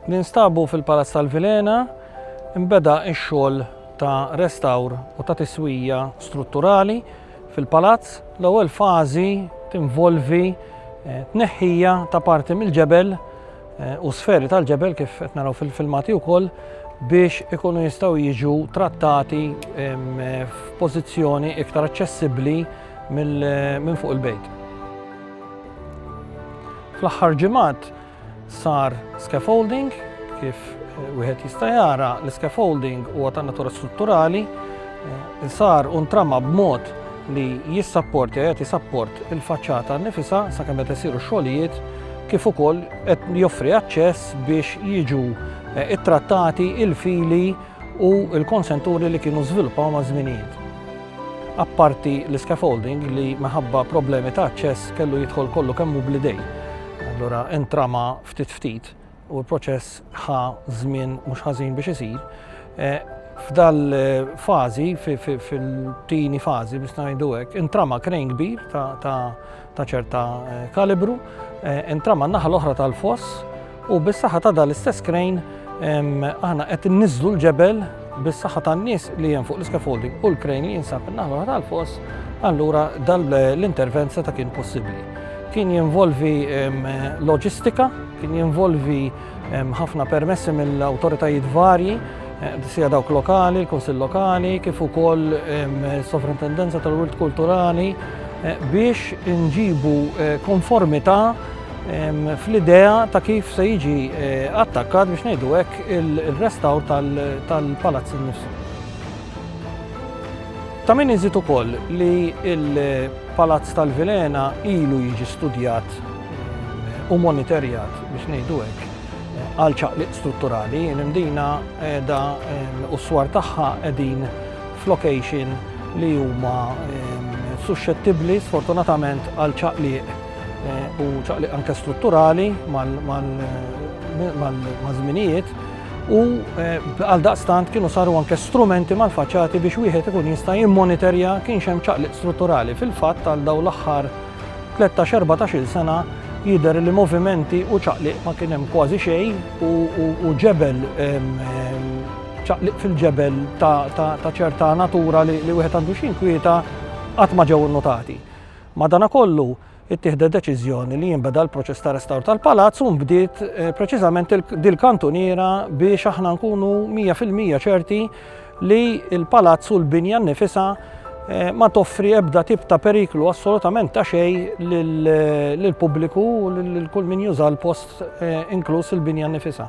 Ninstabu fil-Palazz tal-Vilhena nbeda x-xogħol ta' restawr u ta' tiswija strutturali fil-palazz. L-ewwel fażi tinvolvi eh, tneħħija ta' parti mill-ġebel eh, u sferi tal-ġebel kif qed naraw fil-filmati wkoll biex ikunu jistgħu jiġu trattati f'pożizzjoni iktar aċċessibbli minn fuq il-bejt. Fl-aħħar ġimgħat sar scaffolding, kif wieħed jista' jara l-scaffolding huwa ta' natura strutturali, eh, sar u ntrama b'mod li jissapporti qed jisapport il-faċċata nifisa sakemm qed isiru xogħlijiet kif ukoll qed joffri aċċess biex jiġu eh, ittrattati il-fili u l-konsenturi li kienu żviluppaw ma' żminijiet. apparti l-iscaffolding li minħabba problemi ta' aċċess kellu jidħol kollu kemm hu bl-idejn. Allura intrama ftit ftit u l-proċess ħa żmien mhux ħażin biex isir. Eh, F'dal-fażi, fil-tieni fażi biex ngħidu hekk, intrama krejn kbir ta' ta' ċerta eh, kalibru, eh, intram naħa l-oħra tal-foss u bis-saħħa ta' dal-istess krejn aħna qed niżlu l-ġebel bis-saħħa tan-nies li hemm fuq l-scaffolding u l-krejn li jinsab in-naħa l-oħra tal-foss, allura dal-intervent seta' kien possibbli. Kien jinvolvi loġistika, kien jinvolvi Hemm ħafna permessi mill-awtoritajiet varji, sija dawk lokali, il-Kunsill Lokali, kif ukoll Sovrintendenza tal-Wirt Kulturali biex inġibu konformità fl-idea ta' kif se jiġi attakkat biex ngħidu hekk il-restawr tal-palazz innifsu. Ta' min iżid ukoll li l-Palazz tal-Vilhena ilu jiġi studjat u monitorjat biex ngħidu hekk għal ċaqliq strutturali, l-imdina qiegħda u s-swar tagħha qegħdin f'location li huma suscettibbli sfortunatament għal ċaqliq u ċaqliq anke strutturali mal-żminijiet u għal daqstant kienu saru anke strumenti mal-faċċati biex wieħed ikun jista' jimmonitorja kienx hemm ċaqliq strutturali fil-fatt għal dawn l-aħħar Tlettax, erbatax-il sena jidher li movimenti u ċaqliq ma kien hemm kważi xejn u ġebel, ċaqliq fil-ġebel ta' ċerta natura li wieħed għandu x'inkwieta qatt ma ġew innotati. Madanakollu, ittieħdet deċiżjoni li jinbeda l-proċess ta' restawr tal-palazz u nbdiet preċiżament dil-kantuniera biex aħna nkunu mija fil-mija ċerti li l-palazz u l-binja nnifisha ma toffri ebda tip ta' periklu assolutament ta' xejn lill-pubbliku u lil kull min juża l-post inkluż il-binja nnifisha.